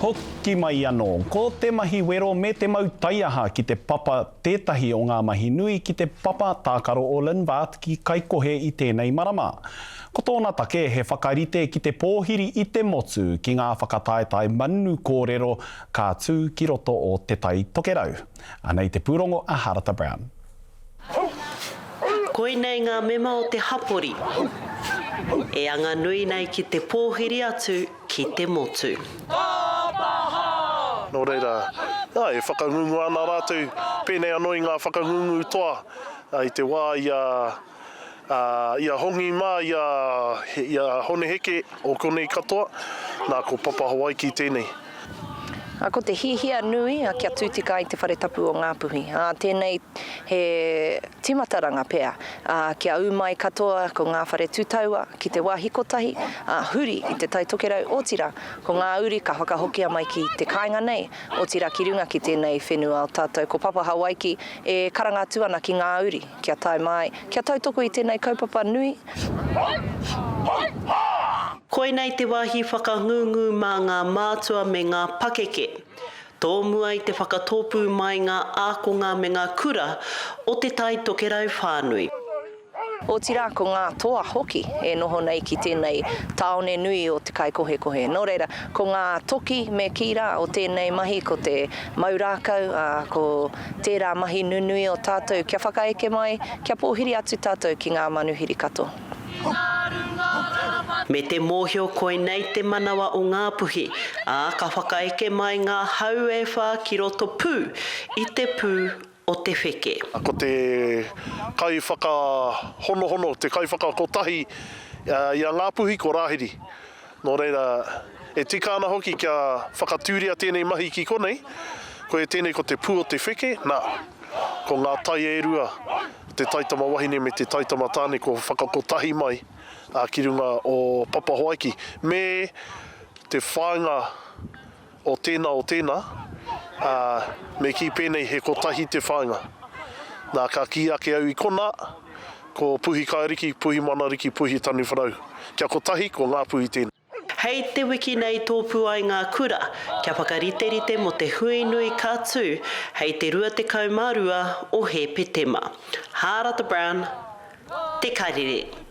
Hoki mai anō, ko te mahi wero me te mau taiaha ki te papa tētahi o ngā mahi nui ki te papa tākaro o Linvaart ki Kaikohe i tēnei marama. Ko tōna take he whakarite ki te pōhiri i te motu ki ngā whakataetae manu kōrero ka tū ki roto o Te Tai Tokerau. Anei te pūrongo a Harata Brown. Koinei ngā mema o te hapori e anga nui nei ki te pōhiri atu ki te motu. Nō reira, e whakangungua ana rātou, pēnei anō i ngā whakangungu toa i te wā i a. Ā, i a Hongi mā, i a, i a Hone Heke, o konei katoa, nā, ko Papa Hawaiki tēnei. Ā, ko te hiahia nui, ā, kia tūtika ai te whare tapu o Ngāpuhi. Ā, tēnei he tīmataranga pea, ā, kia ū mai katoa ko ngā whare tūtaua ki te wāhi kotahi, ā, huri i Te Tai Tokerau, otirā, ko ngā uri ka whakahokia mai ki te kāinga nei, otirā ki runga ki tēnei whenua o tātou ko Papa Hawaiki e karanga atu ana ki ngā uri kia tae māi Kia tautoko i tenei kaupapa nui. Koinei te wāhi whakangungu mā ngā mātua me ngā pakeke. Tōmua i te whakatōpū mai ngā ākonga me ngā kura o Te Tai Tokerau whānui. Otirā ko ngā toa hoki e noho nei ki tēnei tāone nui o te kaikohekohe. Nō reira, ko ngā toki me kī rā o tēnei mahi ko te mau rākau, ā, ko. Tērā mahi nunui o tātou kia whakaeke mai, kia pōhiri atu tātou ki ngā manuhiri katoa. Me te mōhio koinei te manawa o Ngāpuhi, ā, ka whakaeke mai ngā hau e whā ki roto pū i te pū o te wheke. Ko te kaiwhakahonohono, te kaiwhakakotahi i a Ngāpuhi ko Rāhiri. Nō reira, e tika ana hoki kia whakatūria tēnei mahi ki konei, koia tēnei ko te pū o te wheke, nā, ko ngā tai e rua, ko te taitama wahine me te taitama tāne kua whakakotahi mai ki runga o Papahoaiki, me te whāinga. O tēnā, o tēnā, ā, me kī pēnei he kotahi te whāinga. Nā, ka kī ake au i konā, ko Puhikaeriki, Puhimanariki, Puhitanuwharau. Kia kotahi, ko ngā puhi tēnei. Hei te wiki nei tōpū ai ngā kura kia whakariterite mō te hui nui ka tū hei te 22 o Hēpetema. Hārata Brown, Te Karere.